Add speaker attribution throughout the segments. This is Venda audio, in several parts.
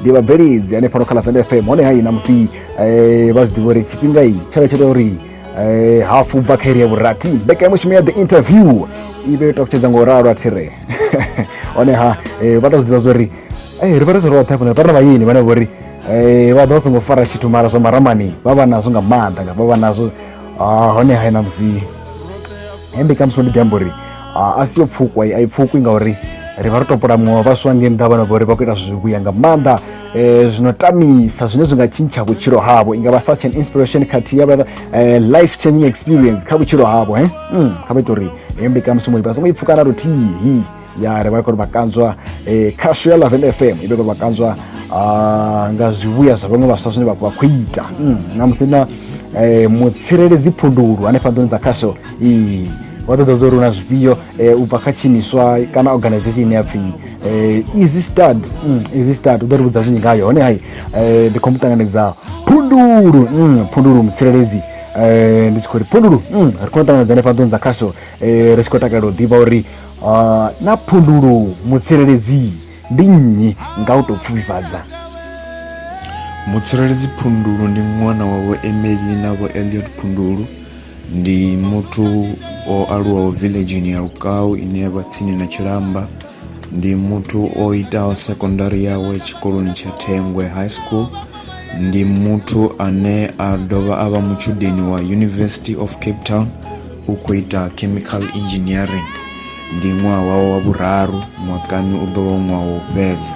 Speaker 1: ndi vhabveledzi hanefhano kha lavenda fm hone hai na musi eh, vha zwi ḓivha uri tshifhinga i tshavha tsho tea uri eh, hafu bva kha iri ya vhurathi mbekanyamushumo ya the interview i vhe yo takutshedza nga u ralo a thire honeha eh, vha ta zwi ḓivha zwa uri eh, ri vha ri zwi roṱhe hafhana vha ri na vhayeni vhane vho ri eh, vha ḓo vha songo fara tshithu mara zwa maramani vha vha nazwo nga maanḓa nga vha vha nazwo Ah, honeha na musi hembe kamusi ndi ḓi amba uri a si yo pfukwa a i pfukwi ngauri ri vha ro topola muṅwe wa vhaswa nge nnḓa vhana vhori vha khou ita zwithu zwivhuya nga maanḓa um zwino tamisa zwine zwi nga tshintsha vhutshilo havho i nga vha such an inspiration khathihi ya vha eh, life changing experience kha vhutshilo havho he hmm, kha vha ita uri heyo mbekanyamushumo vha songo i pfukana luthihi ya ri vha kho ri vha kanzwa um khasho ya laven f m i vhe kho ri vha kanzwa ah, nga zwivhuya zwa vhaṅwe vhaswa zwine vha khou ita hmm, na musi na um mutsireledzi phundulu hanefha nḓuni dza khasho ee wa ṱoḓa zwo uri hu na zwifhio um u bva kha tshiimiswa kana organization ine ya pfhi um easy stad mm, easy stad u ḓo ri vhudza zwinzhi ngayo hone hai um ndi khou mu ṱanganedza phundulu mm, phundulu mutsireledzi um ndi tshi khou ri phundulu mm, ri khou ṱanganedza ne fhaḓoni dza khasho um ri tshi khou takalela u ḓivha uri ah, na phundulu mutsireledzi ndi nnyi nga u tou pfufhifhadza
Speaker 2: mutsireledzi phundulu ndi ṅwana wa vho emeli na vho eliot phundulu Ndi muthu o aluwaho villageni ya Lukau ine ya vha tsini na Tshilamba. Ndi muthu o itaho secondary yawe tshikoloni tsha Thengwe High School. Ndi muthu ane a dovha a vha mutshudeni wa University of Cape Town u khou ita chemical engineering. Ndi ṅwaha wawe wa vhuraru mwakani u ḓo vha u ṅwaha wa u fhedza.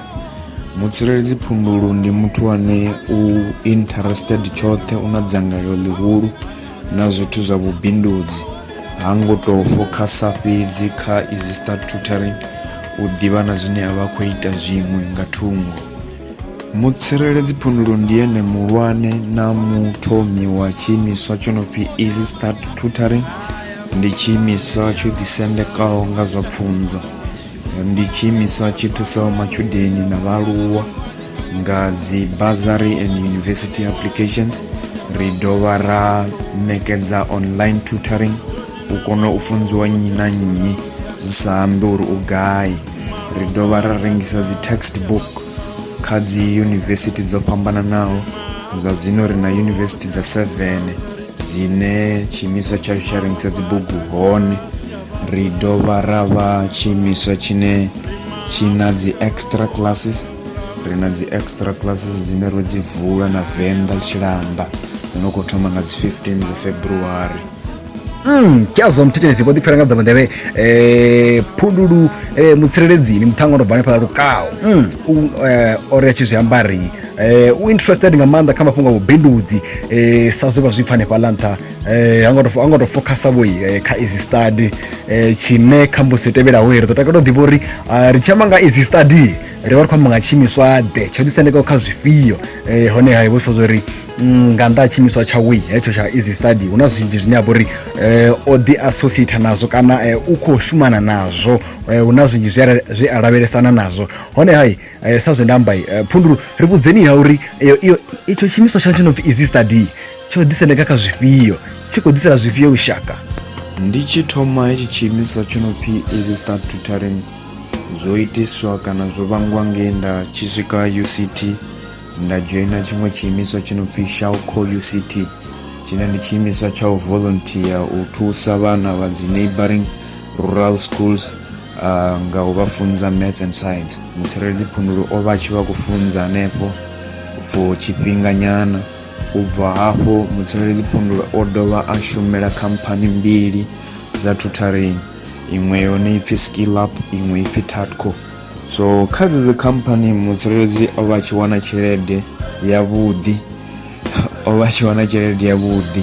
Speaker 2: Mutsireledzi Phundulu ndi muthu ane u interested tshoṱhe u na dzangalelo ḽihulu na zwithu zwa vhubindudzi, ha ngo tou fokhasa fhedzi kha izi start tutoring u ḓivha na zwine a vha khou ita zwiṅwe nga thungo. Mutsireledzi Phundulo ndi ene muhulwane na muthomi wa tshiimiswa tsho no pfi Easy Start Tutoring, ndi tshiimiswa tsho ḓisendekaho nga zwa pfunzo. ndi tshiimiswa tshi thusaho matshudeni na vhaaluwa nga dzi bursary and university applications ri dovha ra ṋekedza online tutoring u kona u funziwa nnyi na nnyi zwi sa ambi uri u gai ri dovha ra rengisa dzi textbook kha dzi yunivesithi dzo fhambananaho zwa zwino ri na yunivesithi dza 7 dzine tshiimiswa tshashu tsha rengisa dzibugu hone Ri dovha ra vha tshiimiswa tshine tshi na dzi extra classes ri na dzi extra classes dzine ro dzi vula na venḓa tshilamba dzo no khou thoma nga dzi 15 dza february Mm,
Speaker 1: kyazwa mthetshelezi vho ḓipfela nga dza mudevhe eh phundulu eh mutshireledzini muthanga ndo bva hanefhala lukaho mm, u eh, o ri a tshi zwi amba ri eh, u interested nga maanḓa kha mafhungo a vhubindudzi eh, sa zwe vha zwi pfa hanefhala nṱha eh hango to hango to focus vho eh, kha easy study eh tshine khambusi yo tevhelaho ri ḓo takala u ḓivha uri ah, ri tshi amba nga easy study ri vha ri khou amba nga tshiimiswa ḓe tsho ḓisendekaho kha zwifhio eh hone ha vhofha zwo ri mm, nga nnḓa ha tshiimiswa tsha wi hetsho tsha easy study hu na zwinzhi zwine ha vha uri eh, o ḓi associate nazwo kana eh, u khou shumana nazwo eh, hu na zwinzhi zwi a- zwi a lavhelesana nazwo hone hai eh, sa zwe nda amba eh, phundulu ri vhudzeni ha uri iyo- iyo- itsho tshiimiswa tsha tshi no pfi easy study tsho ḓisendeka kha zwifhio tshi khou ḓisela zwifhio lushaka ndi tshi
Speaker 2: thoma hetshi tshiimiswa tsho no pfhi easy start tutoring zwo itiswa kana zwo vhangwa nge nda tshi swika uct nda dzhoina tshiṅwe tshiimiswa tsho no pfhi shawco uct tshine ndi tshiimiswa tsha u volunteer u thusa vhana vha dzi neighboring rural schools uh, nga u vha funza maths and science mutsireledzi phundulu o vha tshi vha khou funza hanefho for tshifhinganyana U bva hafho, mutsireledzi phundulo o dovha a shumela khamphani mbili dza tutoring, iṅwe yone ipfi SkillUp, iṅwe ipfi Tatco. So kha dzedzi khamphani mutsireledzi o vha a tshi wana tshelede yavhuḓi, o vha a tshi wana tshelede yavhuḓi.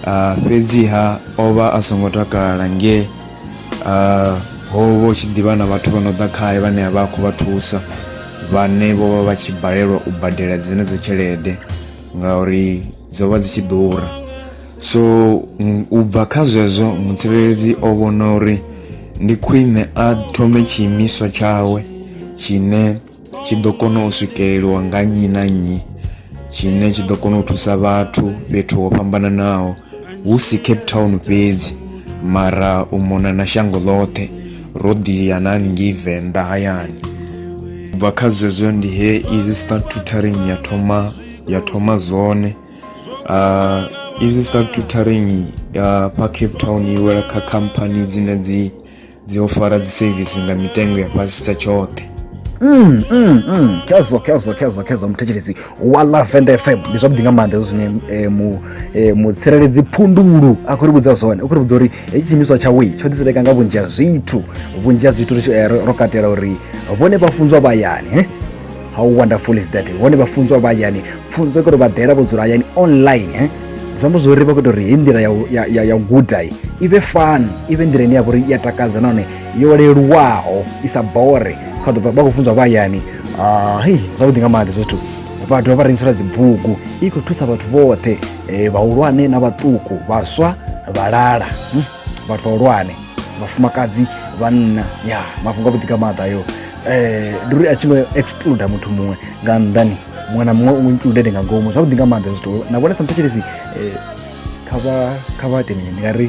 Speaker 2: Ah, fhedziha o vha a songo takala nge ah, ho vha hu tshi ḓivha na vhathu vha no ḓa khae vhane a vha a khou vha thusa. vhane vho vha vha tshi balelwa u badela dzenedzo tshelede ngauri dzo vha dzi tshi ḓura so u bva kha zwezwo mutsireledzi o vhona uri ndi khwine a thome tshiimiswa tshawe tshine tshi ḓo kona u swikeleliwa nga nnyi na nnyi tshine tshi ḓo kona u thusa vhathu fhethu ho fhambananaho hu si cape town fhedzi mara u mona na shango ḽoṱhe ro ḓi ya na haningei venḓa hayani u bva kha zwezwo ndi he easy start tutoring ya thoma ya thoma zwone uh, easy start tutoring ya fha cape town i wela kha khamphani dzine dzi dzi ofara dzi service nga mitengo ya fhasisa tshoṱhe Mm, mm, mm. Khezwo,
Speaker 1: khezwo, khezwo, khezwo muthetshelesi wa la venda fm ndi zwavhuḓi nga maanḓa hezwo zwine eh, mu- eh, mutsireledzi phundulu a khou ri vhudza zwone u khou ri vhudza uri hetshi tshiimiswa tshawe tsho ḓiseleka nga vhunzhi ha zwithu vhunzhi ha zwithu ri tshi- eh, ro ro katela uri vhone vha funzwa vha hayani eh? how wonderful is that vhone vha funzwa vha hayani pfunzo i khou ri vha ḓela vho dzula hayani online eh? zwi amba zwori vha khou ita uri hei nḓila ya u- ya- ya- ya u guda i i vhe fun i vhe nḓila ine ya vha uri i ya takadza nahone yo leluwaho i sa bore kha ḓo vha vha khou funzwa vha hayani hai zwavhuḓi nga maḓi zwithu vha dovha vha rengisela dzibugu i khou thusa vhathu vhoṱhe um vhahulwane na vhaṱuku vhaswa vhalala hm, vhathu vhahulwane vhafumakadzi vhanna ya mafhungo avhuḓi nga maḓi ayo um ndi uri a tshi ngo excluda muthu muṅwe nga nnḓani muṅwe na muṅwe u included nga ngomu zwavhuḓi nga maḓi zwithu na vhone sa muthetshelesi um kha vha kha vha ite mini ndi nga ri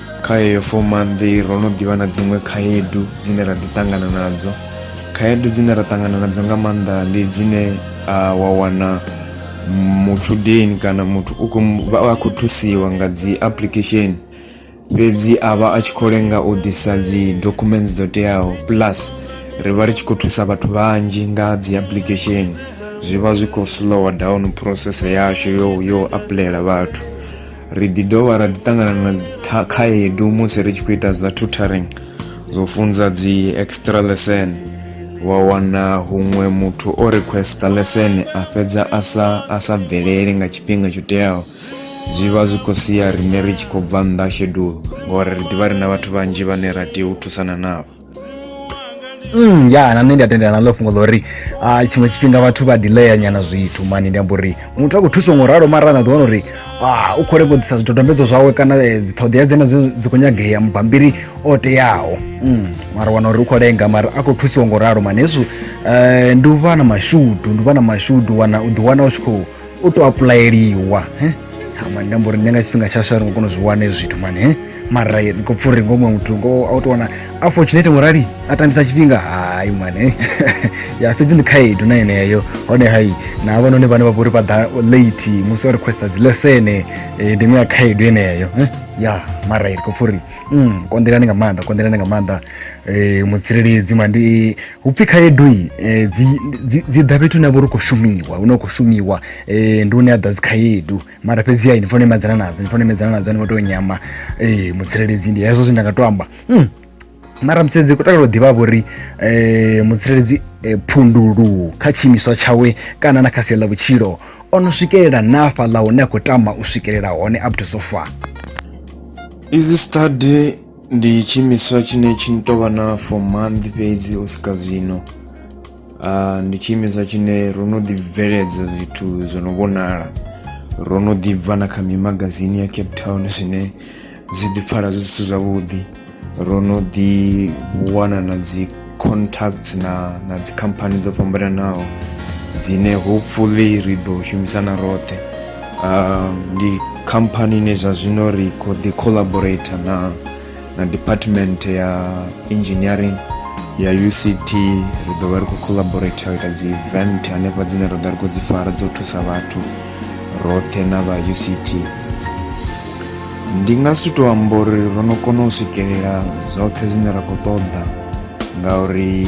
Speaker 1: kha yeyo
Speaker 2: fomannḓi ro no ḓivha na dziṅwe khaedu dzine ra ḓi ṱangana nadzo khaedu dzine ra ṱangana nadzo nga maanḓa ndi dzine uh, wa wana mutshudeni kana muthu u khou vha a khou thusiwa nga dzi application fhedzi a vha a tshi khou lenga u ḓisa dzi documents dzo teaho plus ri vha ri tshi khou thusa vhathu vhanzhi nga dzi application zwi vha zwi khou slower down process yashu yo yo apuḽayela vhathu ri ḓi dovha ra ḓi ṱangana na tha- khaedu musi ri tshi khou ita zwa tutoring zwo funza dzi extra lesson wa wana huṅwe muthu o requesta lesson a fhedza a sa a sa bvelele nga tshifhinga tsho teaho zwi vha zwi khou sia riṋe ri tshi khou bva nnḓa ha shedulu ngori ri ḓivha ri na vhathu vhanzhi vhane ra tea u thusana navho Mm, ya
Speaker 1: na nṋe ndi a tendelana ḽo fhungo ḽo uri uh, tshiṅwe tshifhinga vhathu vha delaya nyana zwithu mani ndi amba uri muthu a khou thusa ngo ralo mara na ḓiwana uri ah, u khou lengo ḓisa zwidodombedzo zwawe kana eh, dziṱhoḓea dzena dzi khou nyagea mubambiri o teaho mm, mara wana uri u khou lenga mara a khou thusiwa ngo ralo mani hezwo um ndi u vha na mashudu ndi u vha na mashudu wana u ḓiwana u tshi khou u to apulayeliwa he ha mani nda mbo ri nṋe nga tshifhinga tsha swa ri ngo kona u zwi wana hezwi zwithu mani he mara ndi khou pfha uri ngo muṅwe muthu ngo a u to wana a fortunate ngo rali a tambisa tshifhinga hayi mani he ya fhedzi ndi khaedu na yeneyo hone hayi na havhanoni vhane vha vha uri vha ḓa late musi o requesta dzi lesene eh, ndi iṅwe ya khaedu yeneyo he ya mara ndi khou pfha uri mm, konḓelani nga maanḓa konḓelani nga maanḓa eh, mutsireledzi mandi upfhi khaedu i eh, dzi dzi- dzi ḓa fhethu hune ha vha uri u khou shumiwa hune u khou shumiwa eh, ndi hune ha ḓa dzi khaedu mara fhedzi ai ni fanela u imedzana nadzo ni fanela u imedzana nadzo ni ngo tea u nyama eh, mutsireledzi ndi hezwo zwe nda nga to amba Hmm. mara mutsireledzi kutakalo u ḓivha vhori um mutsireledzi eh, phundulu kha tshiimiswa tshawe kana na kha sia ḽa vhutshilo o no swikelela na fhaḽa hune a khou tama u swikelela hone up to so far Is study
Speaker 2: Ndi tshiimiswa tshine tshi tou vha na for month fhedzi u swika zwino ndi tshiimiswa tshine ro no ḓi bveledza zwithu zwo no vhonala ro no ḓi bva na kha mimagazini ya cape town zwine zwi ḓi pfala zwi zwithu zwavhuḓi ro no ḓi wana na dzi contacts na na dzi company dzo fhambananaho dzine hopefully ri ḓo shumisana roṱhe uh, ndi company ine zwa zwino ri khou ḓi collaborator na na department ya engineering ya uct ri ḓo vha ri khou collaborator ita dzi event hanefha dzine ra ḓa ri khou dzi fara dzo thusa vhathu roṱhe na vha uct ndi nga si tou amba uri ro no kona u swikelela zwoṱhe zwine ra khou ṱoḓa ngauri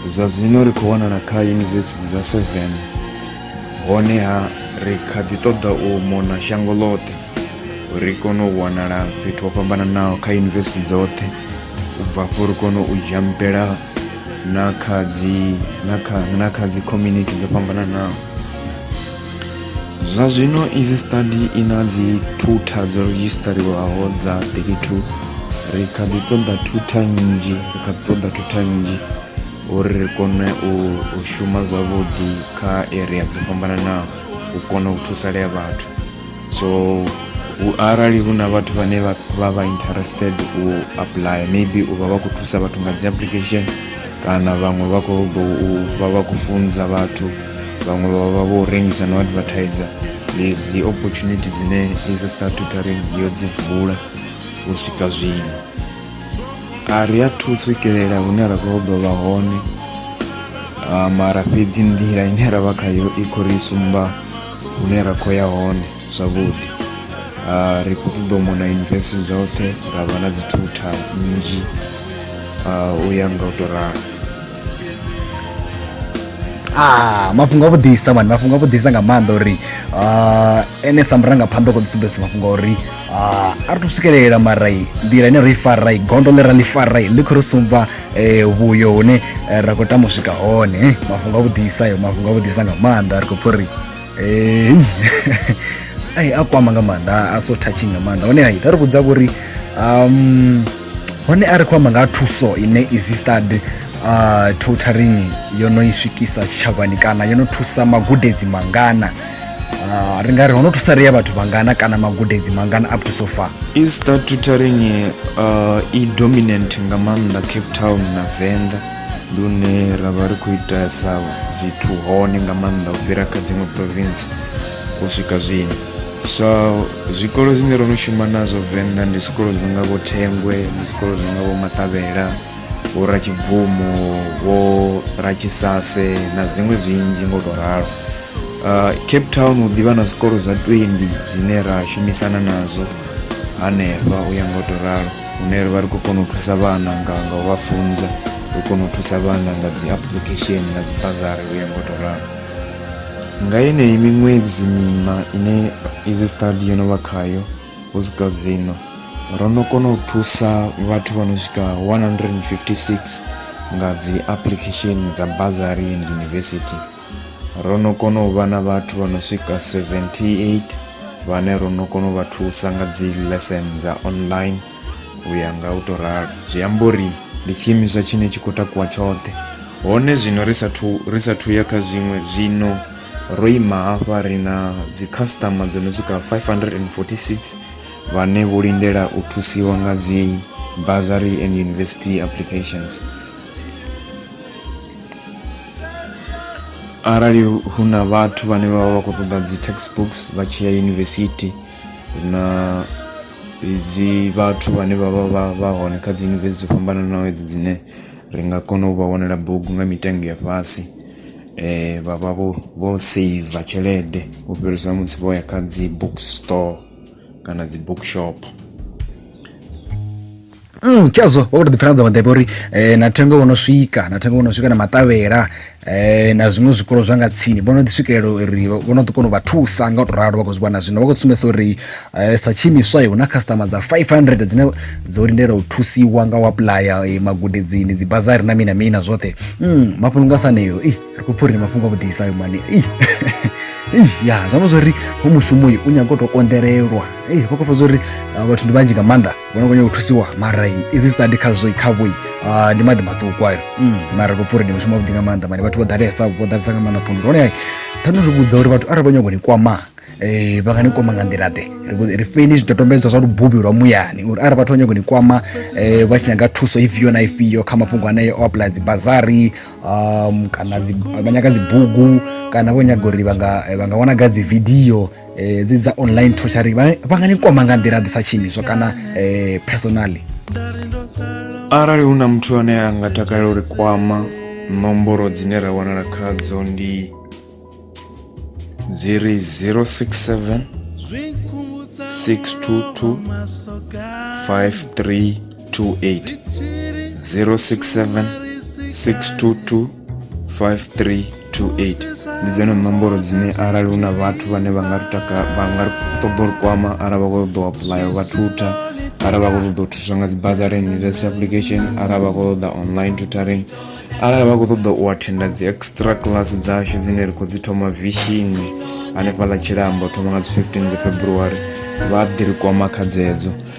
Speaker 2: zwa zwino ri khou wanala kha yunivesithi dza seven honeha ri kha ḓi ṱoḓa u mona shango ḽoṱhe ri kone u wanala fhethu ho fhambananaho kha yunivesithi dzoṱhe u bva afho ri kone u jampela na kha dzi na kha na kha dzi community dzo fhambananaho Zwa zwino izi study i na dzi thutha dzo redzhisiṱariwaho dza 32 ri kha ḓi ṱoḓa thutha nnzhi ri kha ḓi ṱoḓa thutha nnzhi uri ri kone u shuma zwavhuḓi kha area dzo fhambananaho u kona u thusalea vhathu so arali hu na vhathu vhane vha vha interested u apply maybe u vha vha khou thusa vhathu nga dzi application kana vhaṅwe vha khou ḓo vha vha khou funza vhathu vhaṅwe vha vha vho rengisa no advertiser lezi opportunity dzine izi statutory yo dzi vula u swika zwino a ri a thu swikelela hune ra khou ḓo vha hone mara fhedzi nḓila ine ra vha khayo i khou ri sumba hune ra khou ya hone zwavhuḓi Ah, ri khou ṱoḓa u mona yunivesithi dzoṱhe ra vha na dzi thutha nnzhi ah, u ya nga u tou ralo
Speaker 1: Ah, mafhungo a vhuḓisa mani mafhungo a vhuḓisa nga maanḓa uri ah, ene sa murangaphanḓa u khou ḓi sumbedzisa mafhungo a uri ah, a ri to swikelela marai nḓila ine ro i farai gondo ḽe ra ḽi farai ḽi khou ri sumba eh, vhuyo hune eh, ra khou tama u swika hone eh, mafhungo a vhuḓisa ayo mafhungo a vhuḓisa nga maanḓa ri khou pfha uri eh, ai a kwama nga maanḓa a so touching nga maanḓa hone hai ta ri vhudza vhori um hone a ri khou amba nga thuso ine existed uh, totaring yo no i swikisa tshitshavhani kana yo no thusa magudedzi mangana uh, ri nga ri ho no thusa ria vhathu vangana kana magudedzi mangana up to so far easter tutoring
Speaker 2: uh, i dominant nga maanḓa cape town na venḓa ndi hune ra vha ri khou itesa zwithu hone nga maanḓa u fhira kha dziṅwe province u swika zwino so zwikolo zwine ro no shuma nazwo venḓa ndi zwikolo zwi nonga vho thengwe ndi zwikolo zwi nonga vho maṱavhela vho ratshibvumo vho ratshisase na dziṅwe zwinzhi ngo to ralo uh, cape town hu ḓivha na zwikolo zwa 20 zwine ra shumisana nazwo hanefha u ya ngo to ralo hune ri vha ri khou kona u thusa vhana nga nga u vha funza ri kona u thusa vhana nga dzi application na dzi bazari u ya ngo to ralo nga yeneyi miṅwedzi miṋa ine izi study yo no vha khayo u swika zwino ro no kona u thusa vhathu vha no swika 156 nga dzi application dza bazari and university Ro no kona u vha na vhathu vha no swika 78 vhane ro no kona u vha thusa nga dzi lesson dza online u ya nga u to ralo zwi amba uri ndi tshiimiswa tshine tshi khou takuwa tshoṱhe hone zwino ri sathu ri sathu ya kha zwiṅwe zwino ro ima hafha ri na dzi customer dzo no swika 546 vhane vho lindela u thusiwa nga dzi bursary and university applications arali hu na vhathu vhane vha vha vha khou ṱoḓa dzi textbooks vha tshi ya yunivesithi na dzi vhathu vhane vha vha vha vha hone kha dzi yunivesithi dzo fhambananaho edzi dzine ri nga kona u vha wanela bugu nga mitengo ya fhasi um vha vha vho vho seiva tshelede u fhirisa musi vho ya kha dzi book store kana dzi book shop
Speaker 1: Mm, khezwo wa khou to ḓipfela dza vhaḓepe uri eh, na thengo vho no swika na thengo vho no swika na maṱavhela eh, na zwiṅwe zwikolo zwa nga tsini vho no ḓi swikelela uri vho no ḓi kona u vha thusa nga u to ralo vha khou zwi vhona zwino vha khou sumbedzisa uri eh, sa tshiimiswa hu na customer dza 500 dzine dzo lindela u thusiwa nga u apuḽaya eh, magudedzini dzi bazari na mina mina zwoṱhe mm, mafhungo nga saneyo ih, ri khou pfha uri ndi mafhungo a vhuḓisa ayo mani ih. Ih, ya zwi amba zwori ho mushumo uyu u nyaga u to konḓelelwa ih vha khou pfha zwori ah, vhathu ndi vhanzhi nga maanḓa vhona vhanya u thusiwa mara izi study khazwo khavho ndi maḓi maṱuku ayo mm. mara ko pfuri ndi mushumo wavhuḓi nga maanḓa mani vhathu vho ḓalesa vho ḓalesa nga maanḓa phundu hone thani ri vhudza uri vhathu arali vha nyago ni kwama eh, vha nga ni kwama nga nḓila ḓe ri feni zwidodombedzwa zwa lububi lwa muyani uri arali vhathu vha nyago ni kwama eh, vha tshi nyaga thuso ifhio na ifhio kha mafhungo aneo o aplaya dzibazari um, kana vha nyaga dzibugu kana vho nyaga uri vha nga eh, wana ga dzividio eh, dzi dza online troshari vha vha nga ni kwama nga nḓila ḓi sa tshiimiswa kana eh, personally
Speaker 2: arali hu na muthu ane a nga takalela uri kwama nomboro dzine ra wanala khadzo ndi dzi ri 067 622 5328 067 622 5328 ndi dzone nomboro dzine arali hu na vhathu vhane vha nga ri taka vha nga ri ṱoḓa uri kwama arali vha khou ṱoḓa u apuḽaya vha thutha arali vha khou ṱoḓa u thuswa nga dzi bazari and university application arali vha khou ṱoḓa online tutoring arali vha khou ṱoḓa u athenda dzi extra class dzashu dzine ri khou dzi thoma vishini hanefhaḽa tshilambo thoma nga dzi 15 dza february vha ḓi ri kwama kha dzedzo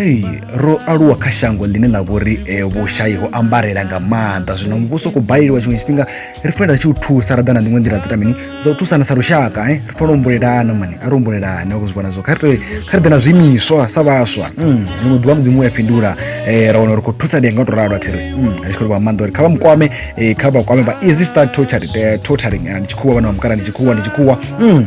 Speaker 1: Hey, ro aluwa kha shango ḽine ḽa vhori eh, vhushayi ho ambarela nga maanḓa zwino muvhuso khou baleliwa tshiṅwe tshifhinga ri fanela tshi u thusa ra ḓa na dziṅwe nḓila dza mini dza u thusana sa lushaka eh? ri fanela u humbulelana mani a ri humbulelane vha zwi vhona zwo kha ri kha ri ḓe na zwiimiswa sa vhaswa mm, ḽiṅwe ḓuvha mudzimu u ya fhindula eh, ra wana uri khou thusa ndi nga u to ralo athi ri mm, ri tshi khou livha nga maanḓa uri kha vha mukwame eh, kha vha kwame vha easy start torturing, eh, torturing eh, ndi tshikhuwa vhana vha mukala ndi tshikhuwa ndi tshikhuwa mm.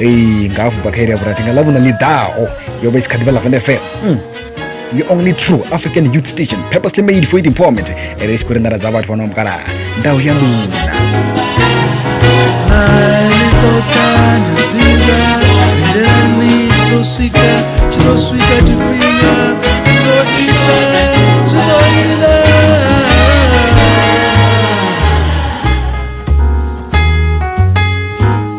Speaker 1: eyi ngavuka khairi ya vhurathi nga ḽavhuna ḽi ḓaho yo vha i si kha ḓivha ḽa vende fm mm. the only true african youth station purposely made for it empowerment ere i tshi khou ri nḓara dza vhathu vhano mukalaha ndau ya luna